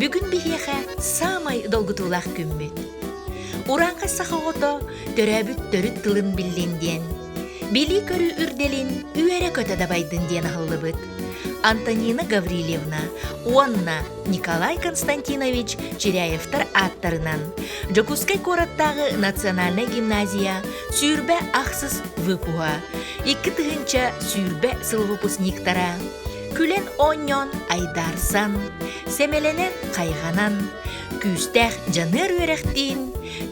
Бүгүн биһиэхэ саамай долгутуулаах күммүт. Урааҥхай саха оҕото төрөөбүт төрүт тылын биллин диэн, билии-көрүү үрдэлин үөрэ-көтө дабайдын диэн аһыллыбыт Антонина Гаврильевна уонна Николай Константинович Чиряевтар ааттарынан Дьокуускай куораттааҕы национальнай гимназия сүүрбэ ахсыс выпуһа, икки тыһыынча сүүрбэ сыл выпускниктара Күлэн-оонньоон айдаарсан, сэмэлэнэн хайҕанан, күүстээх дьаныар үөрэхтиин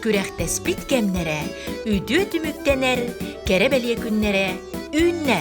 күрэхтэспит кэмнэрэ үтүө түмүктэнэр кэрэ бэлиэ күннэрэ үүннэ.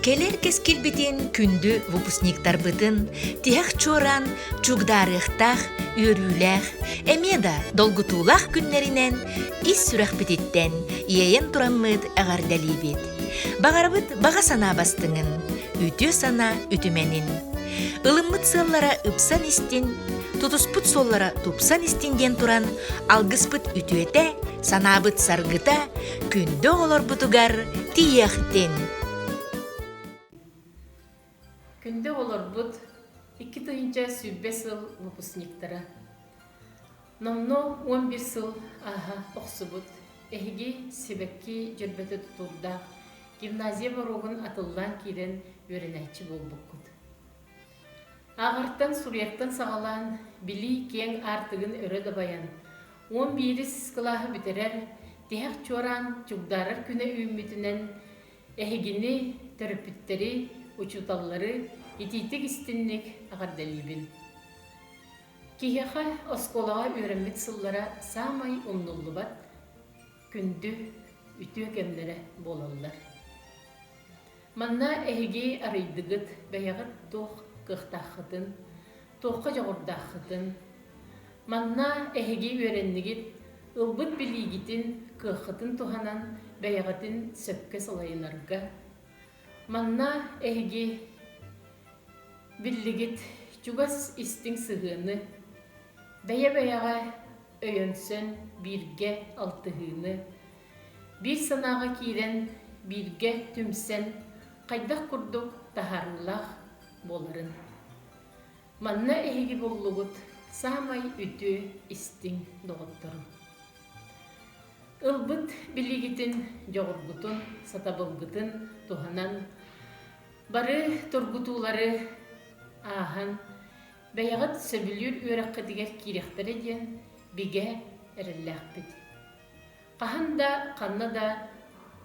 Кэлэр кэскилбитин күндү выпускниктарбытын тиһэх чуораан чугдаарыахтаах, үөрүүлээх, эмиэ да долгутуулаах күннэринэн ис сүрэхпититтэн иэйэн тураммыт эҕэрдэлиибит. Баҕарабыт баҕа санаа бастыҥын, үтүө санаа үтүмэнин. Ылыммыт сыаллара ыпсан истин, тутуспут суоллара тупсан истин диэн туран алгыспыт үтүөтэ, санаабыт саргыта, күндү оҕолорбутугар тиийиэхтин! Күндү оҕолорбут, икки тыһыынча сүүрбэ сыл выпускниктара. Номнуо он бир сыл ааһа охсубут. Эһиги сибэкки дьөрбөтө тутуурдаах гимназия боруогун атыллаан киирэн үөрэнээччи буолбуккут. Аҕартан суруйартан саҕалаан, билии киэҥ аартыгын өрө дабайан, уон биирис кылааһы бүтэрэр, тиһэх чуораан чугдаарар күнэ үүммүтүнэн эһигини, төрөппүттэри, учууталлары итиитик истинник эҕэрдэлиибин. Киһиэхэ оскуолаҕа үөрэммит сыллара саамай умнуллубат, күндү үтүө кэмнэрэ буолаллар. Манна эһиги арыйдыгыт бэйэҕит туох кыахтааххытын, туохха дьоҕурдааххытын, манна эһиги үөрэннигит ылбыт билиигитин, кыаххытын туһанан бэйэҕитин сөпкө салайынарга, манна эһиги биллигит чугас истиҥ сыһыаны, бэйэ-бэйэҕэ өйөнсөн бииргэ алтыһыыны, биир санааҕа киирэн бииргэ түмсэн хайдах курдук таһаарыылаах буоларын. Манна эһиги буллугут саамай үтүө истиҥ доҕотторум. Ылбыт билигитин, дьоҕургутун, сатабылгытын туһанан бары тургутуулары ааһан Бэйэҕит сөбүлүүр үөрэххитигэр киириэхтэрэ диэн бигэ эрэллээхпит. Хаһан да, ханна да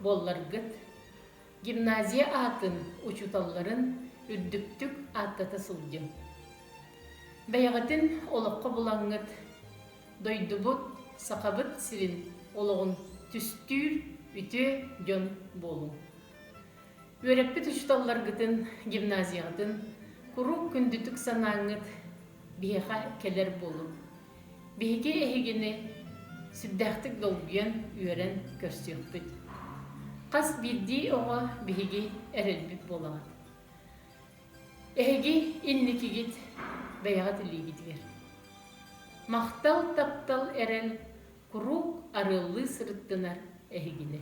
буолларгыт, гимназия аатын учууталларын үрдүктүк ааттата сылдьыҥ. Бэйэҕитин олоххо булаҥҥыт, дойдубут, Сахабыт сирин олоҕун түстүүр үтүө дьон буолуҥ. Үөрэппит учууталларгытын, гимназияҕытын куруук күндүтүк санааҥҥыт биһиэхэ кэлэр буолуҥ. Биһиги эһигини сүрдээхтик долгуйан, үөрэн көрсүөхпүт. Хас биирдии оҕо биһиги эрэлбит буолаҕын. Эһиги инникигит бэйэҕит илиигитигэр. Махтал, таптал, эрэл куруук арыаллыы сырыттынар эһигини.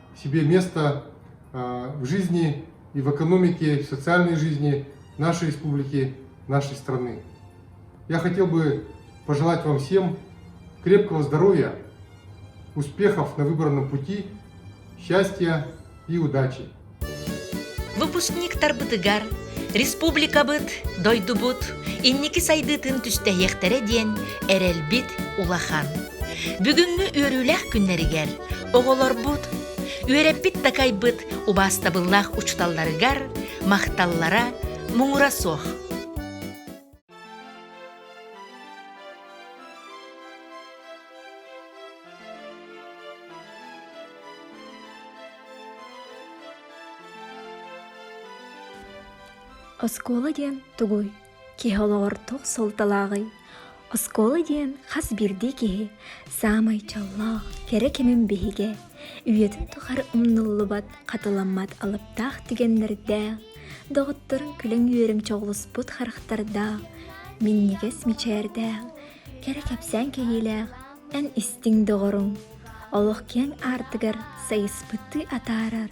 себе место в жизни и в экономике, в социальной жизни нашей республики, нашей страны. Я хотел бы пожелать вам всем крепкого здоровья, успехов на выбранном пути, счастья и удачи. Выпускник тарбытыгар республикабыт дойдубут инники сайдытын түстэһиэхтэрэ диэн эрэлбит улахан. Бүгүҥҥү үөрүүлэх күннэригэр Оҕолорбут, үөрэппит такайбыт убаастабыллаах учууталларыгар махталлара муҥура суох. Оскуола диэн тугуй? Киһи олоҕор туох суолталааҕый? Оскуола диэн хас биирдии киһи саамай чоллоох, кэрэ кэмин биһигэ, үйэтин тухары умнуллубат, хатыламмат алыптаах тигэннэрдээх, доҕотторун күлэҥ үөрүмчэ оҕуспут харахтардаах, минньигэс мичээрдээх, кэрэ кэпсээн кэһиилээх эн истиҥ доҕоруҥ, олох киэҥ аартыгар сайыспыттыы атаарар,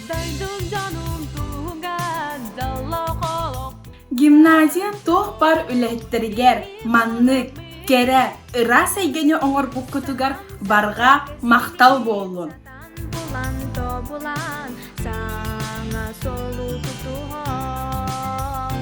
Дойдук дьонум туһугар доллох олох Гимназия туох бар үлэһиттэригэр маннык, кэрэ, ыраас эйгэни оҥорбуккутугар барҕа махтал буоллун. булан тобулан саҥа солуу тутуһан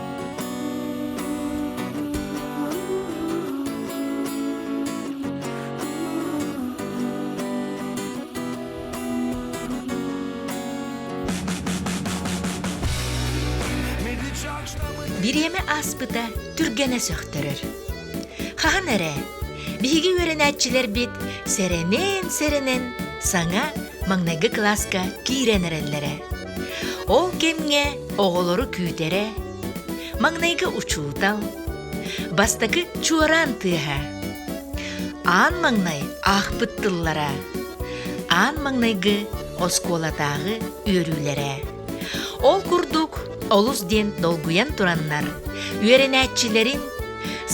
Бириэмэ ааспыта түргэнэ сөхтөрөр. Хаһан эрэ биһиги үөрэнээччилэрбит сэрэнэн-сэрэнэн саҥа маҥнайгы кылааска киирэн эрэллэрэ. Ол кэмҥэ оҕолору күүтэрэ, маҥнайгы учуутал, бастакы чуораан тыаһа, аан маҥнай аахпыт тыллара, аан маҥнайгы оскуолатааҕы үөрүүлэрэ. Ол курдук олус диэн долгуйан тураннар үөрэнээччилэрин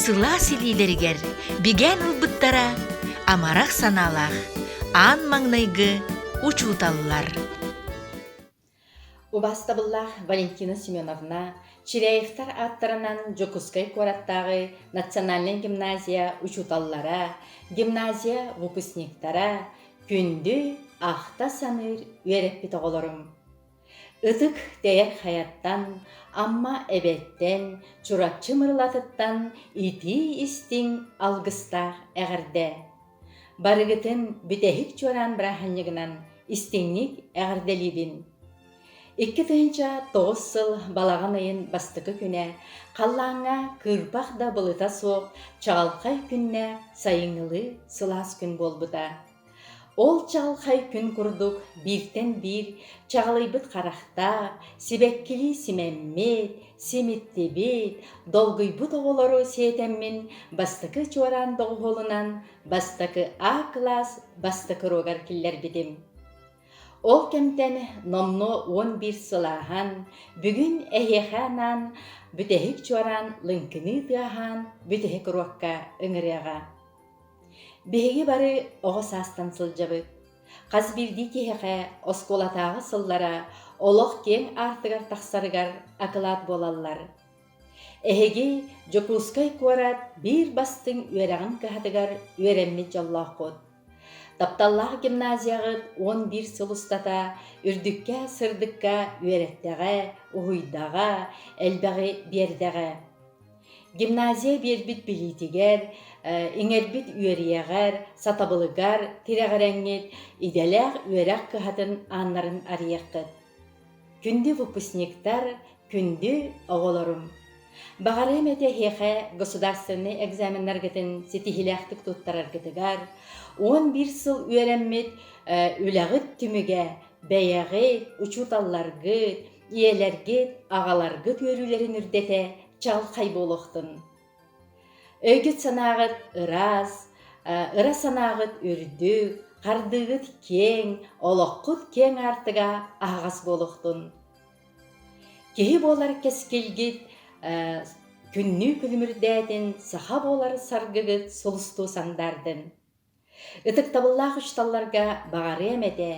сылаас илиилэригэр бигээн ылбыттара амарах санаалаах аан маҥнайгы учууталлар. Убастабыллаах Валентина Семеновна Чиряевтар ааттарынан Дьокуускай куораттааҕы национальнай гимназия учууталлара, гимназия выпускниктара күндү ахта-саныыр үөрэппит оҕолорум! Ытык Тэйэр Хайаттан, Амма Эбэттэн, Чурапчы Мырылатыттан итии-истиҥ алгыстаах эҕэрдэ! Барыгытын бүтэһик чуораан бырааһынньыгынан истиҥник эҕэрдэлиибин! Икки тыһыынча тоҕус сыл балаҕан ыйын бастакы күнэ халлааҥҥа кыырпах да былыта суох чаҕылхай күннэ сайыҥҥылыы сылаас күн буолбута. Ол чаҕылхай күн курдук бииртэн биир чаҕылыйбыт харахтаах, сибэккилии симэммит, Симиттибит, долгуйбут оҕолору сиэтэммин бастакы чуораан доҕуһуолунан бастакы А-кылаас бастакы уруогар киллэрбитим. Ол кэмтэн номнуо уон биир сылааһан, бүгүн эһиэхэ анаан бүтэһик чуораан лыҥкыныы тыаһаан бүтэһик уруокка ыҥырыаҕа. Биһиги бары оҕо саастан сылдьабыт. Хас биирдии киһиэхэ оскуолатааҕы сыллара олох киэҥ аартыгар тахсарыгар акылаат буолаллар. Эһиги Дьокуускай куорат биир бастыҥ үөрэҕин кыһатыгар үөрэммит дьоллооххут. Тапталлаах гимназияҕыт уон биир сыл устата үрдүккэ сырдыкка үөрэттэҕэ, уһуйдаҕа, элбэҕи биэрдэҕэ. Гимназия биэрбит билиитигэр, иҥэрбит үөрүйэҕэр, сатабылыгар тирэҕирэҥҥит идэлээх үөрэх кыһатын ааннарын арыйаххыт. Күндү выпускниктар, күндү оҕолорум! Баҕарыам этэ эһиэхэ государственнай экзаменнаргытын ситиһиилээхтик туттараргытыгар, он биир сыл үөрэммит үлэҕит түмүгэ, бэйэҕит, учууталларгыт, ийэлэргит, аҕаларгыт үөрүүлэрин үрдэтэ чалхай буолуохтун. Өйгүт-санааҕыт ыраас, ыра санааҕыт үрдүк, хардыыгыт киэҥ, олоххут киэҥ аартыга аһаҕас буолуохтун. Киһи буолар кэскилгит күннүү күлүмүрдээтин саха буолар саргыгыт сулустуу сандаардын. Ытыктабыллаах учууталларга баҕарыам этэ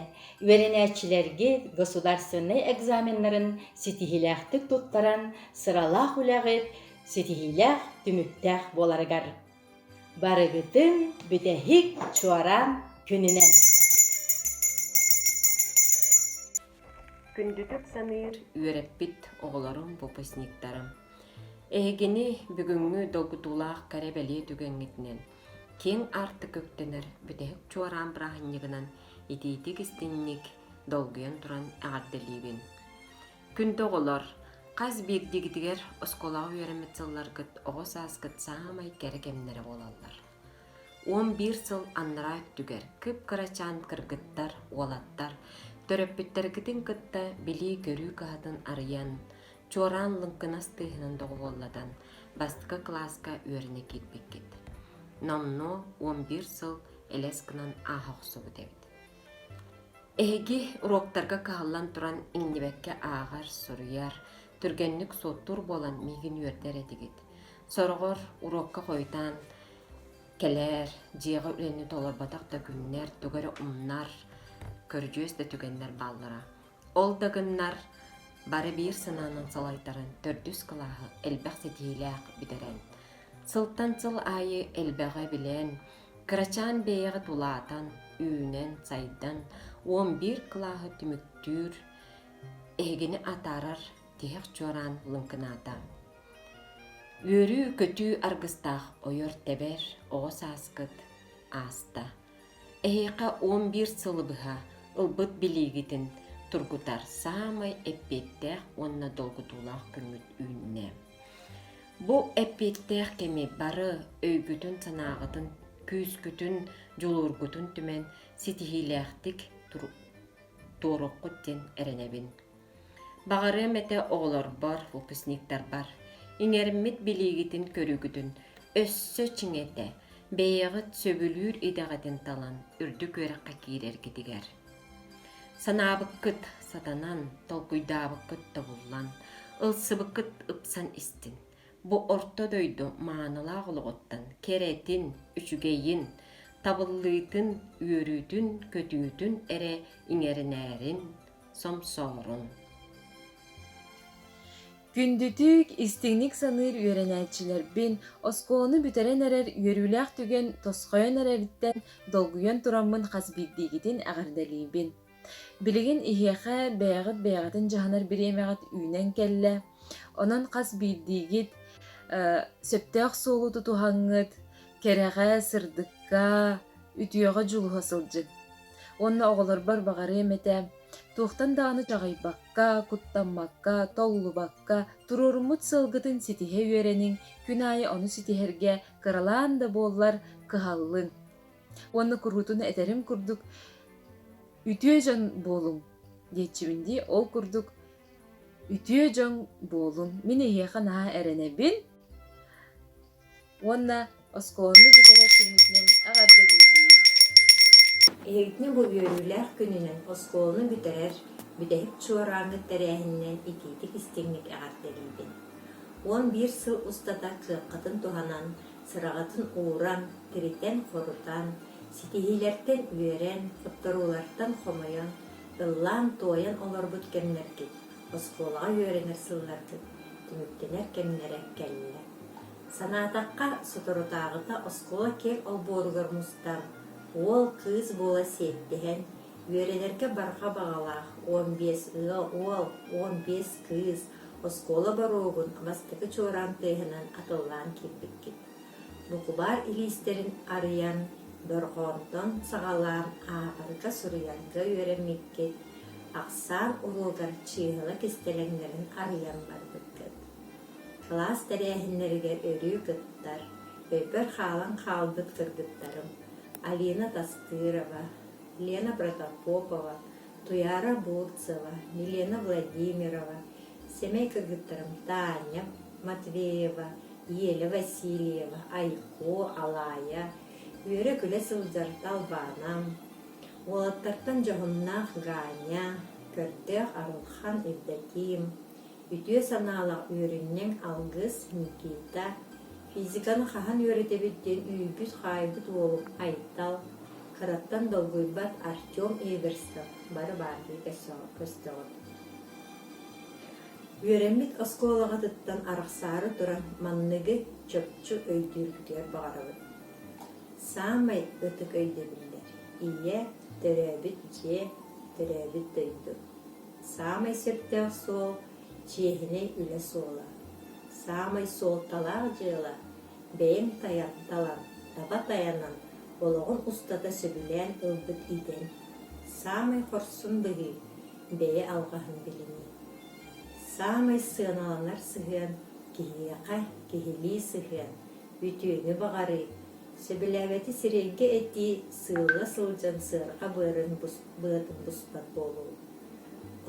үөрэнээччилэргэ государственнай экзаменнарын ситиһиилээхтик туттаран сыралаах үлэҕит ситиһиилээх түмүктээх буоларыгар. Барыгытын бүтэһик Чуораан күнүнэн! Күндүтүк саныыр үөрэппит оҕолорум, выпускниктарым! Эһигини бүгүҥҥү долгутуулаах кэрэ-бэлиэ түгэҥҥитинэн киэҥ аартык үктэнэр бүтэһик чуораан бырааһынньыгынан итиитик-истиҥник долгуйан туран эҕэрдэлиибин. Күндү оҕолор, хас биирдигитигэр оскуолаҕа үөрэммит сылларгыт оҕо сааскыт саамай кэрэ кэмнэрэ буолаллар. Он биир сыл аннараа өттүгэр кып-кырачаан кыргыттар, уолаттар төрөппүттэргитин кытта билии-көрүү кыһатын арыйан, Чуораан лыҥкынас тыаһынан доҕуһуоллатан бастакы кылааска үөрэнэ киирбиккит. Номнуо уон биир сыл элэс гынан ааха охсубут эбит. Эһиги уруоктарга кыһаллан туран иҥнибэккэ ааҕар, суруйар, түргэнник суоттуур буолан миигин үөрдэр этигит. Сороҕор уруокка хойутаан кэлээр, дьиэҕэ үлэни толорботох да күннэр, тугу эрэ умнар, көрүдьүөс да түгэннэр бааллара. Ол да гыннар, бары биир санаанан салайтаран төрдүс кылааһы элбэх ситиһиилээх бүтэрэн, сылтан сыл аайы элбэҕи билэн, кырачаан бэйэҕэ тулаатан, үүнэн-сайдан, уон биир кылааһы түмүктүүр, эһигини атаарар тиһэх чуораан лыҥкынаата. Үөрүү-көтүү аргыстаах ойор-тэбэр оҕо сааскыт ааста. Эһиэхэ он биир сылы быһа ылбыт билиигитин тургутар саамай эппиэттээх уонна долгутуулаах күммүт үүннэ. Бу эппиэттээх кэми бары өйгүтүн-санааҕытын, күүскүтүн, дьулуургутун түмэн ситиһиилээхтик туоруккут диэн эрэнэбин. Баҕарыам этэ оҕолорбор, выпускниктарбар, иҥэриммит билиигитин көрүүгүтүн өссө чиҥэтэ, бэйэҕит сөбүлүүр идэҕитин талан үрдүк үөрэххэ киирэргитигэр. Санаабыккыт сатанан, толкуйдаабыккыт тобуллан, ылсыбыккыт ыпсан истин. Бу орто дойду маанылаах олоҕуттан кэрэтин, үчүгэйин, табыллыытын, үөрүүтүн, көтүүтүн эрэ иҥэринээрин, Сомсоорун. Күндүтүк, истиҥник саныыр үөрэнээччилэрбин оскуоланы бүтэрэн эрэр үөрүүлээх түгэн тосхойон эрэриттэн долгуйан тураммын хас биирдиигитин эҕэрдэлиибин. Билигин иһиэхэ бэйэҕит бэйэҕитин дьаһанар бириэмэҕит үүнэн кэллэ. Онон хас биирдиигит сөптөөх суолу тутуһаҥҥыт, кэрэҕэ, сырдыкка, үтүөҕэ дьулуһа сылдьыҥ. Уонна оҕолорбор баҕарыам этэ, туохтан даҕаны чаҕыйбакка, куттаммакка, толлубакка туруоруммут сыалгытын ситиһэ үөрэниҥ, күн аайы ону ситиһэргэ кыралаан да буоллар кыһаллыҥ. Уонна куруутун этэрим курдук, үтүө дьон буолуҥ диэччибин дии. Ол курдук үтүө дьон буолун. Мин эһиэхэ наһаа эрэнэбин. уонна оскуоланы бүтэрэр түмүтүнэн эҕэрдэ диибин Иһитинэ бу үөрүүлээх күнүнэн оскуоланы бүтэрэр бүтэһик чуорааҥҥы тэрээһининэн итиитик-истиҥник эҕэрдэлиибин. Уон биир сыл устата кыаххытын туһанан, сыраҕытын ууран, тиритэн-хорутан, ситиһиилэртэн үөрэн, хотторуулартан хомойон, ыллаан-туойан олорбут кэмнэргит оскуолаҕа үөрэнэр сылларгыт түмүктэнэр кэмнэрэ кэллэ. Санаатахха, соторутааҕыта оскуола киэҥ олбуоругар мустан, уол-кыыс буола сиэттиһэн, үөрэнэргэ барҕа баҕалаах уон биэс ыал, уол, уон биэс кыыс оскуола боруогун бастакы чуораан тыаһынан атыллаан киирбиккит. Букубаар илиистэрин арыйан, дорҕоонтон саҕалаан ааҕарга, суруйарга үөрэммиккит, ахсаан уруогар чыыһыла кистэлэҥнэрин арыйан барбыккыт. Кылаас тэрээһиннэригэр өрүү кыттар, өйбөр хаалан хаалбыт кыргыттарым Алина Тастырова, Лена Протопопова, Туйаара Бурцева, Милена Владимирова, сэмэй кыргыттарым Таня Матвеева, Еля Васильева, Айко, Алаайа үөрэ-күлэ сылдьар Талбаанам, уолаттартан дьоһуннаах Ганя, көрдөөх Арылхан Евдоким, үтүө санаалаах үөрүнньэҥ алгыс Никита, физиканы хаһан үөрэтэбит диэн үүйбүт-хаайбыт уолум Айтал, кыраттан долгуйбат Артем Эверстов бары баардыы көстөҕүт. Үөрэммит оскуолаҕытыттан арахсаары туран манныгы чопчу өйдүүргүтүгэр баҕарабын: саамай ытык өйдөбүллэр ийэ, төрөөбүт дьиэ, төрөөбүт дойду, саамай сөптөөх суол, чиэһинэй үлэ суола, саамай суолталаах дьыала, бэйэҥ тайан, талан, таба тайанан олоҕун устата сөбүлээн ылбыт идэҥ, саамай хорсун быһыы бэйэ алҕаһын билинии. Саамай сыаналанар сыһыан киһиэхэ киһилии сыһыан, үтүөнү баҕарыы. Сөбүлээбэти сирэйгэ этии, сыылла сылдьан сыарҕа быарын быатын буспат буолуу.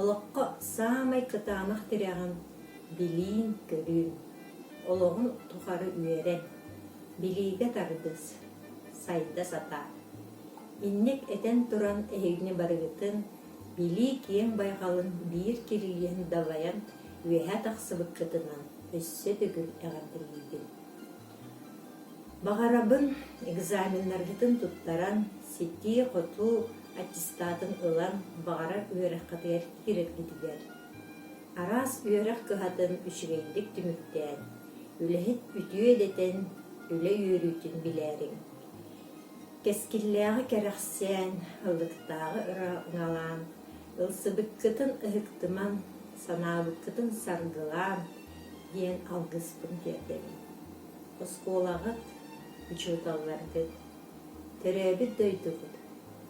Олоххо саамай кытаанах тирэҕин билиин-көрүүн. Олоҕун тухары үөрэн. Билиигэ тардыс, сайда сатаа. Инник этэн туран эһигини барыгытын Билии киэҥ байҕалын биир кирилиэн далайан үөһэ тахсыбыккытынан өссө төгүл эҕэрдэлиибин. Баҕарабын экзаменнаргытын туттаран, ситии-хотуу аттестатын ылан баҕарар үөрэххитигэр киирэргитигэр. Араас үөрэх кыһатын үчүгэйдик түмүктээн, үлэһит үтүө идэтин, үлэ үөрүүтүн билээриҥ. Кэскиллээҕи кэрэхсээн, ылыктааҕы ыраҥалаан, ылсыбыккытын ыһыктымаҥ, санаабыккытын саргылаан диэн алгыспын тиэрдэбин. Оскуолаҕыт, учууталларгыт, төрөөбүт дойдугут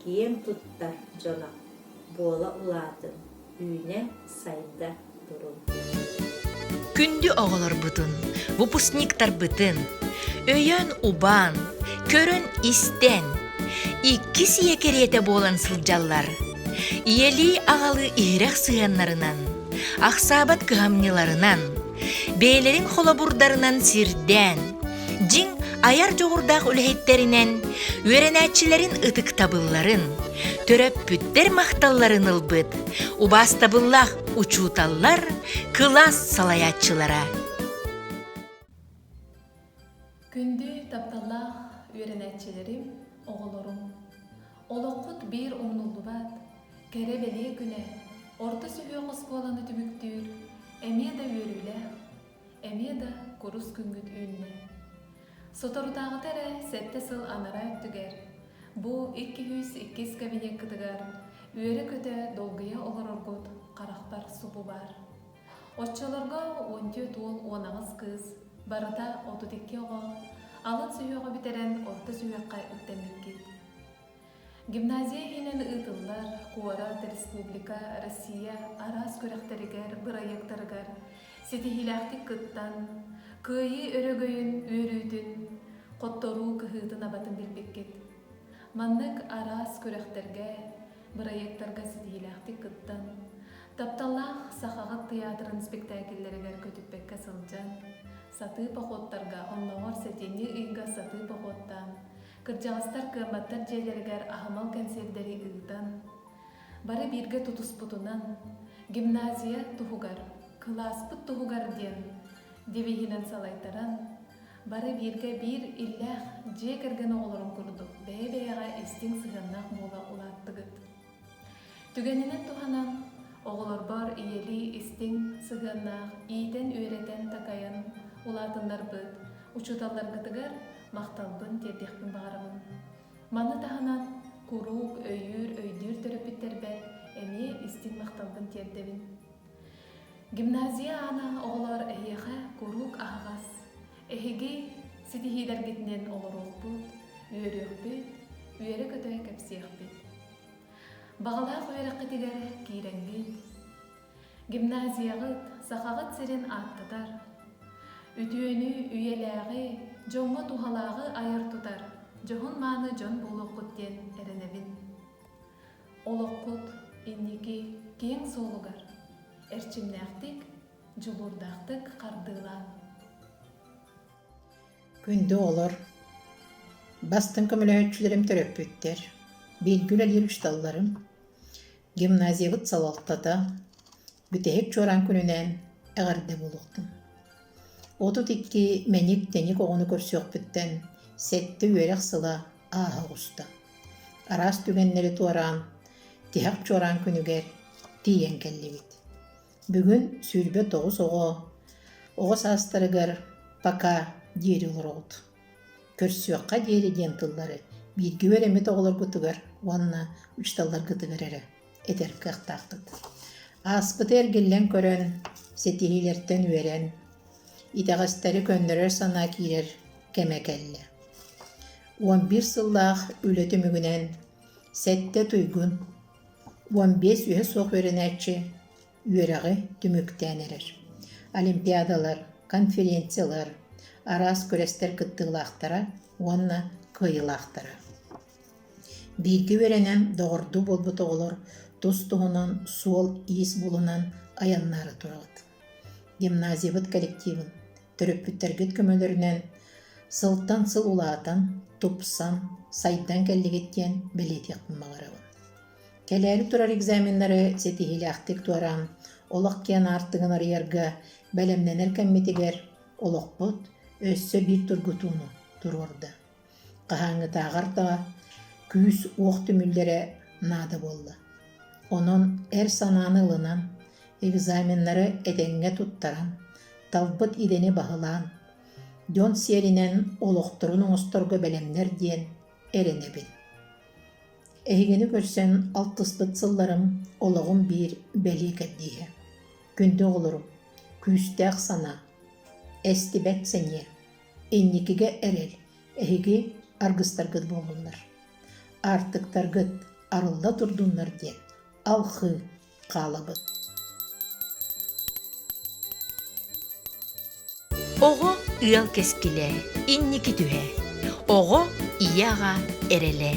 киэн туттар дьоно буола улаатын, Күндү оҕолорбутун, выпускниктарбытын, өйөөн-убаан, көрөн-истэн, иккис ийэ кэриэтэ буолан сылдьаллар. Ийэлии аҕалыы иһирэх сыһыаннарынан, ахсаабат кыһамньыларынан, бэйэлэрин холобурдарынан сирдээн, дьиҥ айар дьоҕурдаах үлэһиттэринэн үөрэнээччилэрин ытыктабылларын, төрөппүттэр махталларын ылбыт убаастабыллаах учууталлар, кылаас салайааччылара. Күндү тапталлаах үөрэнээччилэрим, оҕолорум! Олоххут биир умнуллубат, кэрэ-бэлиэ күнэ, орто сүһүөх оскуоланы түмүктүүр эмиэ да үөрүүлээх, эмиэ да курус күҥҥүт үүннэ. Соторутааҕыта эрэ сэттэ сыл анараа өттүгэр бу икки-үһүс иккис кабинеккытыгар үөрэ-көтө долгуйа олороргут харахпар субу баар. Оччолорго уон түөрт уол уон аҕыс кыыс, барыта отут икки оҕо, алын сүһүөҕэ бүтэрэн орто сүһүөххэ үктэммиккит. Гимназия иһинэн ыытыллар куорат, республика, Россия араас күрэхтэригэр, бырайыактарыгар ситиһиилээхтик кыттан, Кыайыы өрөгөйүн үөрүүтүн, хотторуу кыһыытын-абатын билбиккит. Маннык араас күрэхтэргэ, бырайыактарга ситиһиилээхтик кыттан, Тапталлаах Сахаҕыт тыйаатырын спектакльлэригэр көтүппэккэ сылдьан, сатыы походтарга, оннооҕор сэтинньи ыйга сатыы походтаан, кырдьаҕастар кыамматтар дьиэлэригэр аһымал кэнсиэрдэри ыытан, бары бииргэ тутуспутунан, гимназия туһугар, кылааспыт туһугар диэн девиһинэн салайтаран, бары бииргэ биир иллээх дьиэ кэргэн оҕолорун курдук бэйэ-бэйэҕэ истиҥ сыһыаннаах буола улааттыгыт. Түгэнинэн туһанан, оҕолорбор ийэлии истиҥ сыһыаннаах иитэн-үөрэтэн-такайан улаатыннарбыт учууталларгытыгар махталбын тиэрдиэхпин баҕарамын. Маны таһынан, куруук өйүүр-өйдүүр төрөппүттэрбэр эмиэ истиҥ махталбын тиэрдэбин. Гимназия аана оҕолор эһиэхэ куруук аһаҕас, Эһиги ситиһиилэргитинэн олоруохпут, үөрүөхпүт, үөрэ-көтө кэпсиэхпит. Баҕалаах үөрэххитигэр киирэҥҥит, гимназияҕыт, сахаҕыт сирин ааттатар, үтүөнү, үйэлээҕи, дьоҥҥо туһалааҕы айар-тутар дьоһун-мааны дьон буолуоххут диэн эрэнэбин. Олоххут инники киэҥ суолугар эрчимнээхтик Дьулуурдаахтык хардыылаан Күндү оҕолор, бастыҥ көмөлөһөөччүлэрим төрөппүттэр, бииргэ үлэлиир учууталларым, гимназиябыт салалтата, бүтэһик чуораан күнүнээн эҕэрдэ буолуохтун. Отут икки мэник тэник оҕону көрсүөхпүттэн сэттэ үөрэх сыла ааһа оҕуста. Араас түгэннэри туораан, тиһэх чуораан күнүгэр тиийэн кэллибит. Бүгүн сүүрбэ тоҕус оҕо оҕо саастарыгар «Пока» диэри олороҕут. Көрсүөххэ диэри диэн тыллары бииргэ үөрэммит оҕолоргутугар уонна учууталларгытыгар эрэ этэр кыахтаахпыт. Ааспыты эргиллэн көрөн, ситиһиилэртэн үөрэн, итэҕэстэри көннөрөр санаа киирэр кэмэ кэллэ. Он бир сыллаах үлэ түмүгүнэн сэттэ туйгун уон биэс үөһэ суох үөрэнээччи үөрэҕи түмүктээн эрэр. Олимпиадалар, конференциялар, араас күрэстэр кыттыылаахтара уонна кыайыылаахтара. Бииргэ үөрэнэн доҕордуу буолбут оҕолор тус туһунан суол-иис булунан айаннаары турабыт. Гимназиябыт коллективын төрөппүттэргит көмөлөрүнэн сылтан сыл улаатан, тупсан, сайдан кэллигит диэн бэлиэтиэхпин баҕарабын. Кэлээри турар экзаменнары ситиһиилээхтик туораан, олох киэн аартыгын арыйарга бэлэмнэнэр кэммитигэр олохпут өссө биир тургутууну туруорда. Хаһааҥҥытааҕар даҕа күүс уох түмүллэрэ наада буолла. Онон эр санааны ылынан, экзаменнары этэҥҥэ туттаран, талбыт идэни баһылаан, дьон сиэринэн олохторун оҥосторго бэлэмнэр диэн эрэнэбин. Эһигини көрсөн алтыспыт сылларым олоҕум биир бэлиэкэрдииһэ. Күндү оҕолорум, күүстээх санаа, эстибэт сэниэ. инникигэ эрэл, эһиги аргыстаргыт буоллуннар. Аартыктаргыт арылла турдуннар диэн алхыы хаалабыт. Оҕо ыал кэскилэ, инники түһэ. Оҕо ийэ-аҕа эрэлэ.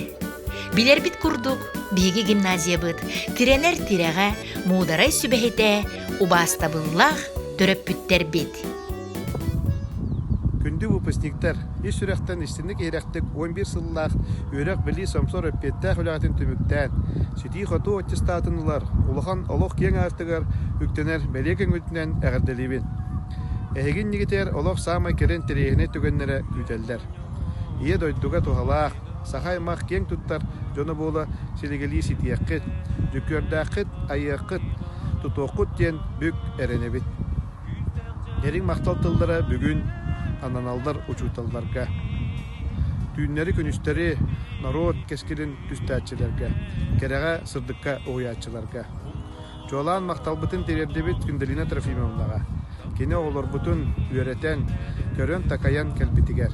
Билэрбит курдук, биһиги гимназиябыт тирэнэр тирэҕэ, муударай сүбэһитэ, убаастабыллаах төрөппүттэрбит. Күндү выпускниктар! Ис сүрэхтэн истинник-иһирэхтик уон биир сыллаах үөрэх-билии сомсор эппиэттээх үлэҕитин түмүктээн, ситии-хотуу аттестатын ылар улахан олох киэҥ аартыгар үктэнэр бэлиэ көҥүлтүнэн эҕэрдэлиибин! Эһиги иннигитигэр олох саамай кэрэ интэриэһинэй түгэннэрэ күүтэллэр. Ийэ дойдуга туһалаах, саха аймах киэҥ туттар дьоно буола силигэлии ситиэххит, дьүккүөрдээххит, айыаххыт, тутуоххут диэн бүк эрэнэбит. Дириҥ махтал тыллара бүгүн ананаллар учууталларга, түүннэри-күнүстэри норуот кэскилин түстээччилэргэ, кэрэҕэ, сырдыкка уһуйааччыларга. Чуолаан махталбытын тириэрдибит Күндэлина Трофимовнаҕа, кини оҕолорбутун үөрэтэн, көрөн-такайан кэлбитигэр,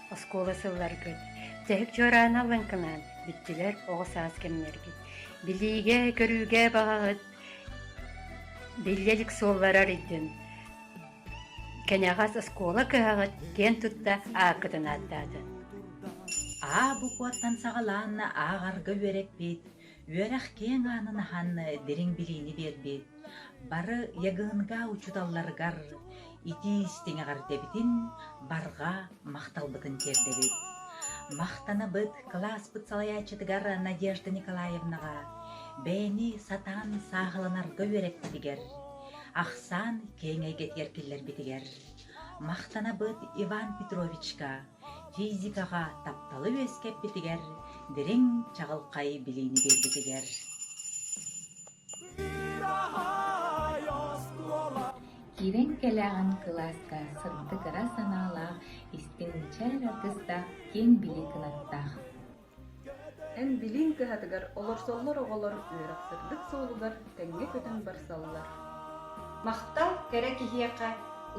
Оскуола сылларгыт Дьэһик чуораана лыҥкынаан Бүттүлэр оҕо саас кэмнэргит Билиигэ-көрүүгэ баҕаһыт Биллэ илик суолларар идин Кэнэҕэс оскуола кыһаҕыт Киэн тутта ааккытын ааттаатын Аа букваттан саҕалаанна Ааҕарга үөрэппит Үөрэх киэҥ аанын аһан дириҥ билиини биэрбит бары ЕГНГА учууталларыгар итии-истиҥ эҕэрдэбитин, барҕа махталбытын тиэрдэбит. Махтанабыт кылааспыт салайааччытыгар Надежда Николаевнаҕа, бэйэни сатаан сааһыланарга үөрэппитигэр, ахсаан киэҥ эйгэтигэр киллэрбитигэр. Махтанабыт Иван Петровичка, физикаҕа тапталы үөскэппитигэр дириҥ чаҕылхай билиини биэрбитигэр киирэн кэлээҕин кылааска сырдык ыра санаалаах истиҥ мичээр артыыстаах киэҥ билии кынаттаах Эн билииҥ кыһатыгар олорсоллор оҕолор үөрэх сырдык суолугар тэҥҥэ көтөн барсаллар Махтал кэрэ киһиэхэ,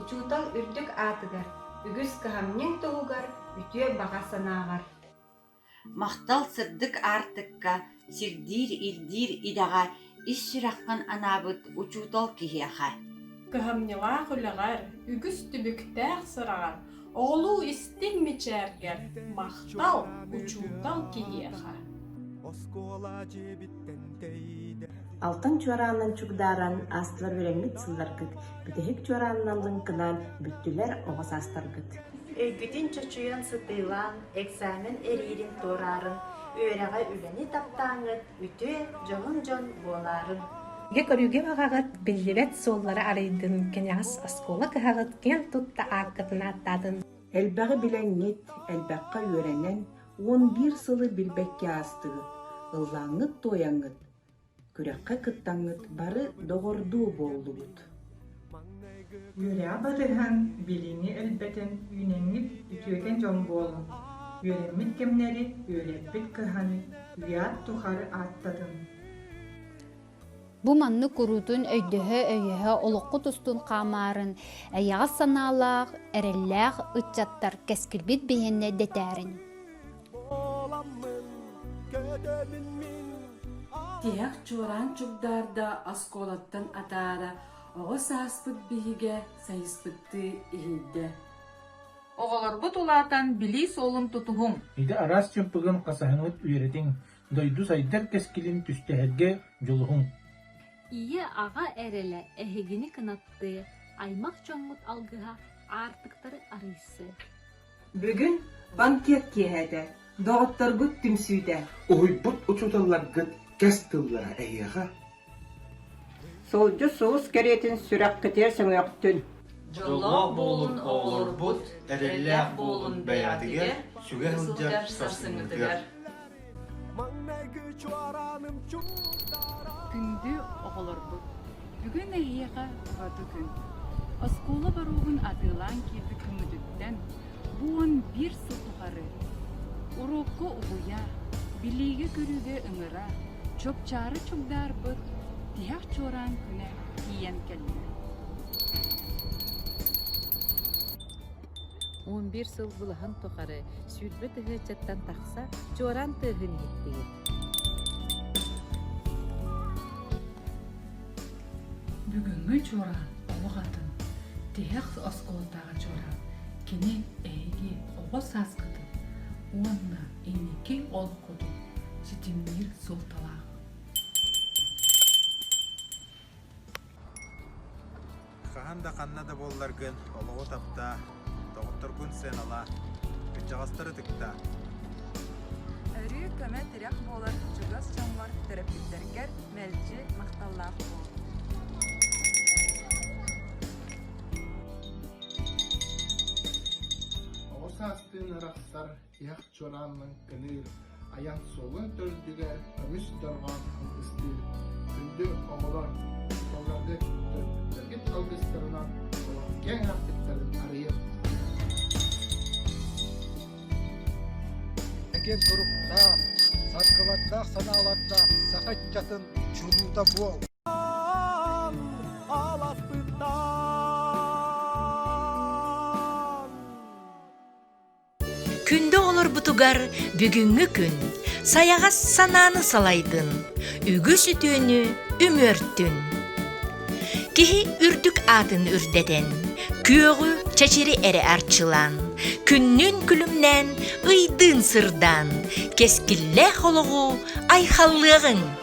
учуутал үрдүк аатыгар, үгүс кыһамньыҥ туһугар, үтүө баҕа санааҕар. Махтал сырдык аартыкка, сирдиир-ирдиир идэҕэ Ис сүрэххин анаабыт учуутал киһиэхэ. Кыһамньылаах үлэҕэр, үгүс түбүктээх сыраҕар, оҕолуу истиҥ мичээргэр махтал учуутал киһиэхэ. Оскуола дьиэбиттэн тэйдэ. Алтан чуораанынан чугдааран аастылар үөрэммит сылларгыт, бүтэһик чуораанынан лыҥкынаан бүттүлэр оҕо саастаргыт. Өйгүтүн чочуйан сытыылаан, экзамен эриирин туораарын, үөрэҕэ үлэни таптааҥҥыт, үтүө дьоһун дьон буолаарын. Дьэ көрүүгүм аҕаҕыт биллибэт суоллара арыйдын, кэнэҕэс оскуола кыһаҕыт киэн тутта ааккытын ааттаатын. Элбэҕи билэҥҥит, элбэххэ үөрэнэн, уон биир сылы билбэккэ аастыгыт, ыллааҥҥыт-туойаҥҥыт, күрэххэ кыттаҥҥыт бары доҕордуу буоллугут. Үөрэ батыһан, билиини өлбөтөн үүнэммит үтүөкэн дьон буолуҥ, үөрэммит кэмнэри үөрэппит кыһан, үйэ тухар ааттатын. Бу маннык куруутун өйдөһө-өйөһө олоххут устун хаамаарын эйэҕэс санаалаах, эрэллээх ыччаттар кэскилбит биһэннэ дэтээрин. Тиһэх чуораан чугдаарда оскуолаттан атаара оҕо сааспыт биһигэ сайыспыттыы иһийдэ. Оҕолорбут улаатан билии суолун тутуһуҥ! Ити араас чымпыгын хасаһыныт үөрэтиҥ, дойду сайдар кэскилин түстэһэргэ дьулуһуҥ. Ийэ-аҕа эрэлэ эһигини кынаттыы, аймах дьоммут алгыһа аартыктары арыйсыы. Бүгүн банкет киэһэ этэ, доҕотторгут түмсүүтэ. Уһуйбут учууталларгыт кэс тыллара эһиэхэ? Сылдьы сулус кэриэтин сүрэххитигэр сөҥөхтүн. Дьоллоох буолун оҕолорбут, эрэллээх буолун бэйэтигэр, сүгэ сылдьар сарсыҥҥытыгар. Күндү оҕолорбут, бүгүн эһиэхэ ураты күн. Оскуола боруогун атыылаан киирбит күҥҥүтүттэн бу уон биир сыл тухары уруокка угуйа, билиигэ-көрүүгэ ыҥыра, чупчаары чугдаарбыт тиһэх чуораан күнэ тиийэн кэллэ. Он биир сыл былаһын тухары сүүрбэ тыһы ыччаттан тахса чуораан тыаһын иһиттигит Бүгүҥҥү чуораан олох атын. Тиһэх оскуолатааҕы чуораан. Кини эһиги оҕо сааскытын уонна инники олоххутун ситимниир суолталаах. Хаһан да ханна да буолларгын олоҕу таптаа, доҕотторгун сыаналаа, кырдьаҕастары ытыктаа. Өрүү көмө-тирэх буолар чугас дьоҥҥор, төрөппүттэргэр мэлдьи махталлаах буол. Оҕо саастыын арахсар Эх Чуораанның кыныыр айан суолун төрдүгэр көмүс дорҕоон алгыстыыр күндү оҕолор тоҥордук төргүт алгыстарынан олох киэҥ артыктарын арыйыам. Эген туруктаах, саргылардаах санаалардаах саха ыччатын чулуута буол! Аласпыттан Күндү оҕолорбутугар бүгүҥҥү күн сайаҕас санааны салайдын, үгүс үтүөнү үмүөртүн. Киһи үрдүк аатын үрдэтэн, күөҕү чэчири эрэ арчылаан, күннүн күлүмнээн, ыйдыын сырдаан, кэскиллээх олоҕу айхаллыаҕыҥ.